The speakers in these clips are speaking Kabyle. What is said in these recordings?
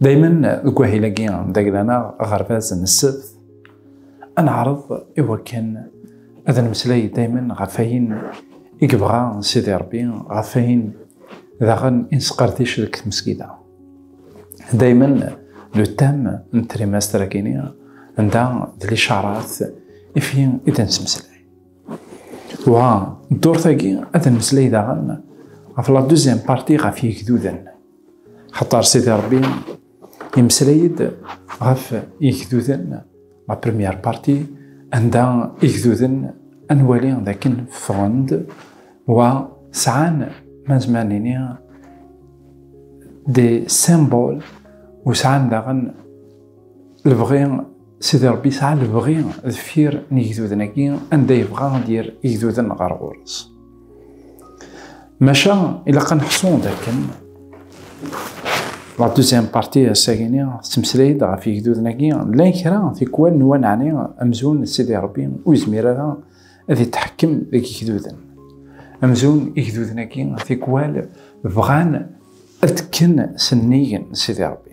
دايما deg wahil-agi d aglaneɣ aɣerbaz n ssebt ad neɛreḍ i wakken ad nemmeslay dayma ɣef ayen i yebɣa Sidi Ṛebbi, ɣef ayen daɣen i nesqerdec deg tmesgida. Dayma le thème n trimestre-agi-ni anda d licarat i fi i d nesmeslay. Wa ddurt-agi ad nemmeslay daɣen ɣef la deuxième partie ɣef yegduden. Xaṭer Sidi Ṛebbi yemmeslay-d ɣef igduden la première partie anda igduden ad nwali d akken ffɣen-d wa sɛan ma nezmer nini des symboles u sɛan daɣen lebɣi Sidi Ṛebbi yesɛa lebɣi deffir n yigduden-agi anda yebɣa ad d-yerr igduden ɣer ɣur-s. Maca ilaq ad neḥsu d akken la deuxième partie ass-agi-ni tettmeslay-d ɣef yigduden-agi llan kra tikwal n waneɛni amzun d Sidi Ṛebbi ur yezmir ara ad yetḥekkem deg yigduden. Amzun igduden-agi tikwal bɣan ad kken s nnig n Sidi Ṛebbi.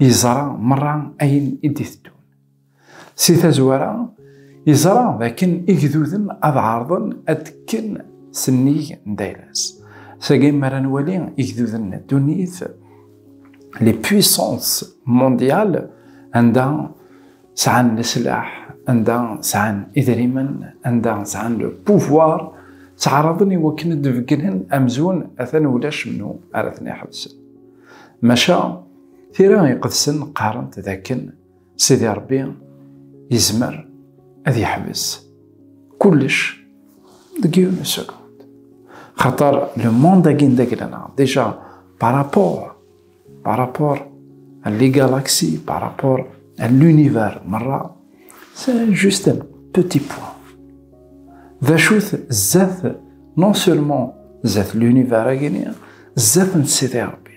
yeẓra merra ayen i d-iteddun. Si tazwara, yeẓra d akken igduden ad ɛerḍen ad kken sennig n dayla-s. Sagi mi ara nwali igduden n ddunit, les puissances mondiales, anda sɛan leslaḥ, anda sɛan idrimen, anda sɛan le pouvoir, ttɛaraḍen i wakken ad d-beggnen amzun atan ulac menhu ara ten-iḥebsen. Maca, Tira iqedsen qqarent dakken Sidi Ṛebbi yezmer ad yeḥbes kullec deg yiwen sekund. Xaṭer le monde-agi n dagla-nneɣ déjà par rapport par rapport à les galaxies par rapport à l'univers merra c'est juste un petit point. D acu-t zdat non seulement zdat l'univers-agi-ni zdat n Sidi Ṛebbi.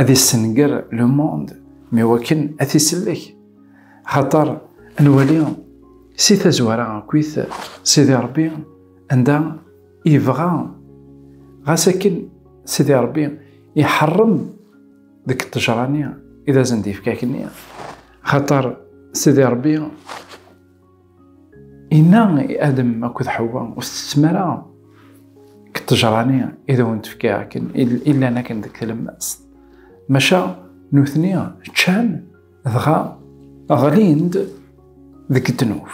ad yessenger le monde mi wakken ad t-isellek xaṭer nwali si tazwara akkit sidi rebbi anda yebɣa ɣas akken sidi rebbi iḥerrem deg ṭṭejrani i d asen-d-yefka kenni xaṭer sidi rebbi Inna i Adem akked Ḥewwa, ur tettettem ara deg ṭṭejra-nni i d awen-d-fkiɣ akken i llan akken deg tlemmast. Maca nutni ččan dɣa ɣlin-d deg ddnub.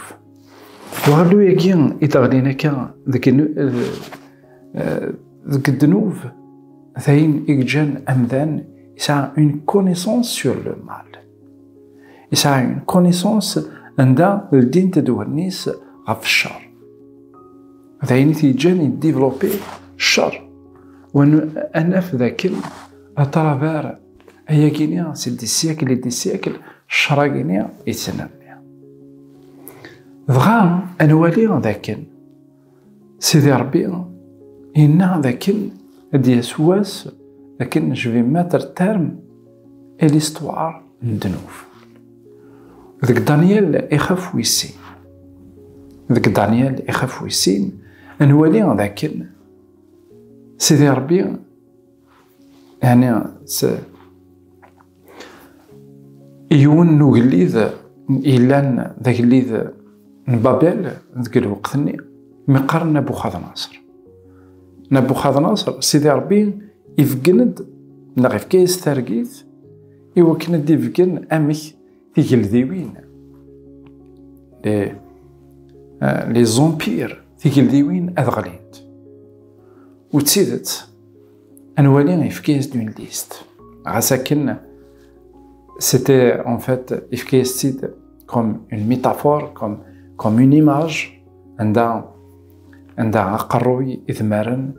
Uɣellu-agi i d-ɣlin akka deg ddnub d ayen i yeǧǧan amdan yesɛa une connaissance sur le mal. Yesɛa une connaissance anda ldint-d wallen-is ɣef cceṛ. D ayen i t-yeǧǧan yeddiveloppi cceṛ. Ad naf d akken atravar ayagi-ni si d siècle i d siècle cceṛ-agi-ni yettnerni. Dɣa ad nwali d akken Sidi Ṛebbi inna d akken ad d-yas wass akken je vais mettre terme à l'histoire n ddnub. Deg Daniel ixaf wis sin. Deg Daniel ixaf wis sin, nwali d akken Sidi Ṛebbi Ɛni yiwen n ugellid yellan d agellid n Babel deg lweqt-nni mi qqaren Nabuxadnaṣer. Nabuxadnaṣer, Sidi Ṛebbi ibeggen-d neɣ ifka-yas targit i wakken ad d-ibeggen amek tigeldiwin les empires tigeldiwin ad ɣlint u d tidet Anwali yefka-yas-d une liste. Ɣas akken, c'était en fait yefka-yas-tt-id comme une métaphore, comme, comme une image, anda anda aqerruy, idmaren,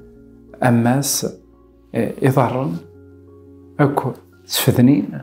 ammas, iḍarren, akk ttfednin.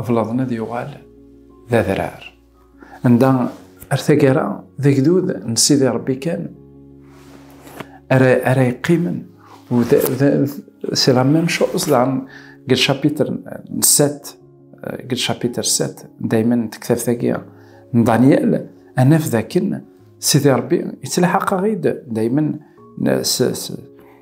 ablaḍen ad yuɣal d adrar anda ar tagara d agdud n sidi rebbi kan ara ara yeqqimen u c'est la même chose daɣen deg lchapitre n set deg lchapitre set dayma n tektabt-agi n daniel anaf dakken sidi rebbi yettlaḥaq-aɣ-id dayma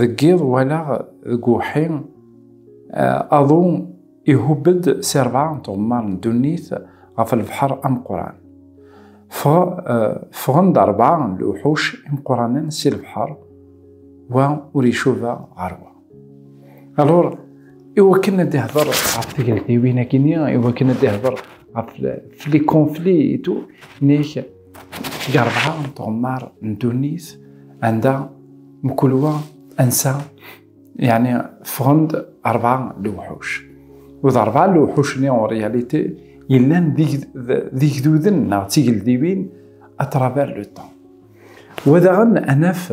deg yiḍ walaɣ deg uwḥi aḍu ihubb-d si rebɛa n tɣemmar n ddunit ɣef lbeḥr ameqqran. Ffɣen-d rebɛa n lewḥuc imeqqranen si lebḥer, wa ur icuba ɣer wa. Alur, iwakken ad ihder ɣef tegeldiwin akini, iwakken ad ihder ɣef les conflits et tout, nek Deg rebɛa n tɣemmar n ddunit anda mkul wa ansa yani ffɣen-d rebɛa n lewḥuc. U d rebɛa n lewḥuc-nni en réalité yellan d igduden neɣ d tigeldiwin à travers le temps. Wa daɣen ad naf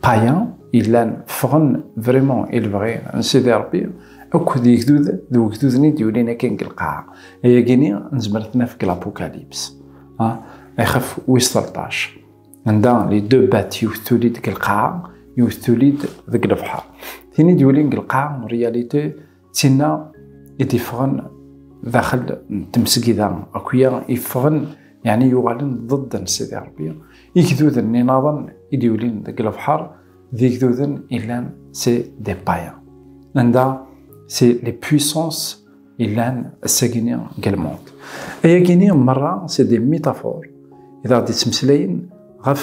païens yellan ffɣen vraiment i lebɣi n Sidi Rebbi akk d yegdud d wegduden i d-yulin akken deg lqaɛa ayagini nezmer tnaf deg l'apocalypse ixef wis 13 anda li deux bêtes yiwet tuli-d deg lqaɛa yiwet tuli-d deg lebḥer tin i d-yulin deg lqaɛa en réalité Tinna i d-iffɣen daxel n temsegida akya iffɣen yeɛni yuɣalen ḍed n Sidi Ṛebbi igduden n inaḍen i d-yulin deg lebḥer d igduden illan si Depaya anda si les puissances illan ass-agini deg lmond. Ayagini merra si des métaphores i d aɣ-d-yettmeslayen ɣef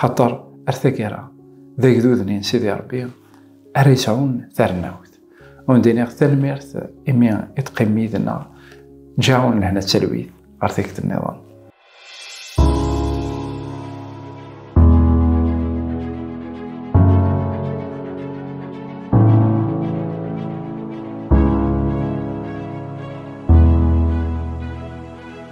Xaṭer ar taggara d agdud-nni n Sidi Ṛebbi ara yesɛun tarnawt. Ur d-iniɣ tanemmirt imi i teqqimem yid-nneɣ. Ǧǧaɣ-awen lehna d talwit ɣer tikkelt nniḍen.